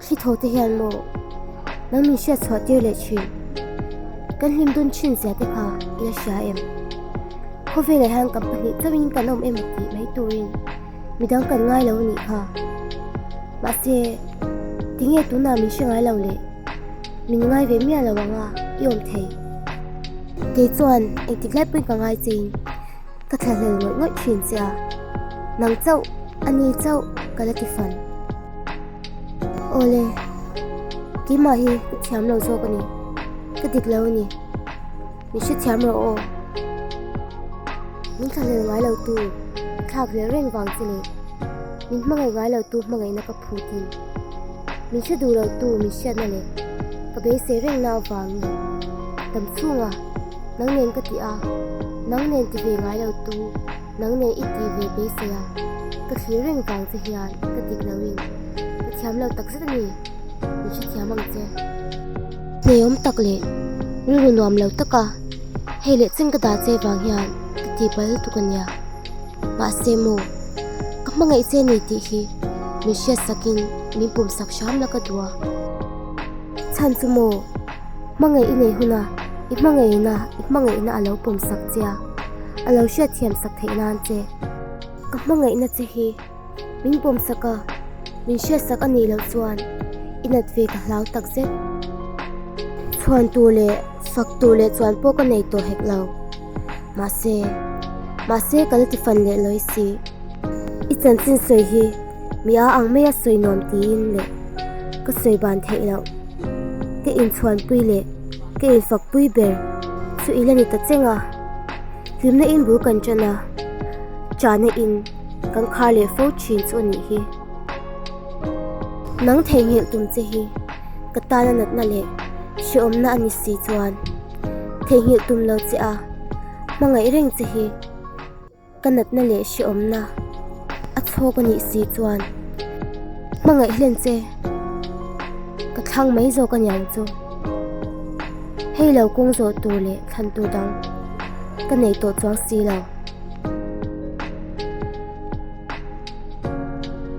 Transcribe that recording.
Hri tho te hian maw nang min hriat chhuah tir leh thin? Kan hlim dun thin zia te kha i la hria em? Khawvelah hian kan pahnih chauhin kan awm em tih mai turin midang kan ngai lo nih kha. Mahse, tinge tunah min hre ngai lo le? Min ngai ve miah lo anga i awm thei. Kei chuan engtik lai pawhin ka ngai che in. Ka thla hlel ngawih ngawih thin che a, nang chauh a ni chauh ka la ti fan. Awle, keimah hi ka thiam lo zawk a ni, ka dik lo a ni, min hrethiam rawh aw. Min thla hlel ngai lotu thlak vel reng vang che leh min hmangaih ngai lotu hmangaihna ka phu ti. Min hre duhloh tu min hriatna leh ka beisei rengna avangin dam chhunga nang nen ka ti a, nang nen ti ve ngailo tu nang nen i tih ve beisei a ka thlir reng vang che hian i ka dik loin ka thiamlo takzet a ni. Min hrethiam ang che. Hmeiawm tak leh rilru nuamlo taka hei leh chen ka dah che vang hian ka tihpalh lutuk a nia. Mahse maw, ka hmangaih che ni tih hi min hriat sakin min pum sak hram la ka duh a. Chhan chu maw, hmangaih i nei huna i hmangaihna i hmangaihna a lo pum sak che a, a lo hriat thiam sak theih nan che. Ka hmangaihna che hi min pum sak a, min hriat sak a nih loh chuan i nat ve ka hlau tak zet. Chhuan tur leh fak tur leh chuan pawh ka nei tawh hek lo. Mahse, mahse kan tifan leh lawi si. I chanchin sawi hi mi aa ang mai a sawi nuam tiin le ka sawi ban theih loh. Ka inchhuanpui leh ka infakpui ber chu i la ni ta cheng a. Hlimna in bul kan tan a, chahna in kan khar leh fo thin chu a nih hi. Nang theihnghilh tum che hi ka tana natna leh hreawmna a ni si chuan. Theihnghilh tum lo che a, hmangaih reng che hi ka natna leh hrehawmna a chhawk a nih si chuan hmangaih hlen che ka thlang mai zawk a niang chu. Hei lo kawng zawh tur leh thlan tur dang ka nei tawh chuang si lo.